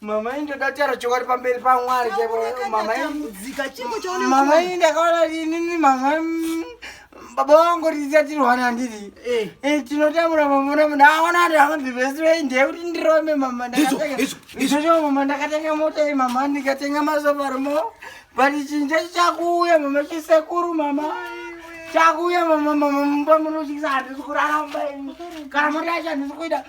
Mama ini ndoda kutaura chokwadi pamberi paMwari chaipo. Mama ini mama ini ndakaona inini mama baba vangu riziya tirwana handiti eh. eh, tinotamura mamona munhu aona ati amabhibhesirei ndeye kuti ndirome mama ndakatengaizochoo mama ndakatenga mota iyi mama ndikatenga mazovaromo but chinhu chacho chakuuya mama chisekuru mama chakuuya mama mama mumba munotyisa handisi kurara mumba ini kana mota yacho handisi kuita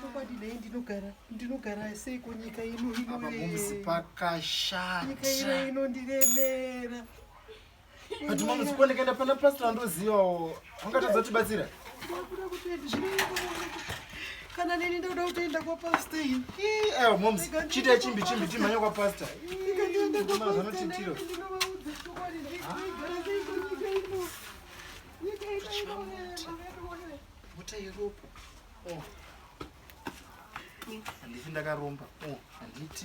chokwadi nei ndinogara ndinogara sei kunyika ino inomuzi pakashanyika ino inondiremera ati mama sikuwa ndikaenda pana pastor andozivawo angatadza kutibatsira ndakuda kutoenda zvinooneka kana neni ndoda kutoenda kwapastor iyi ewa moms chiita chimbi chimbi timhanya kwapastor ndikandienda kwapastoranotiitiro Bota yeropa. Oh. Handiti ndakaromba. Oh, handiti.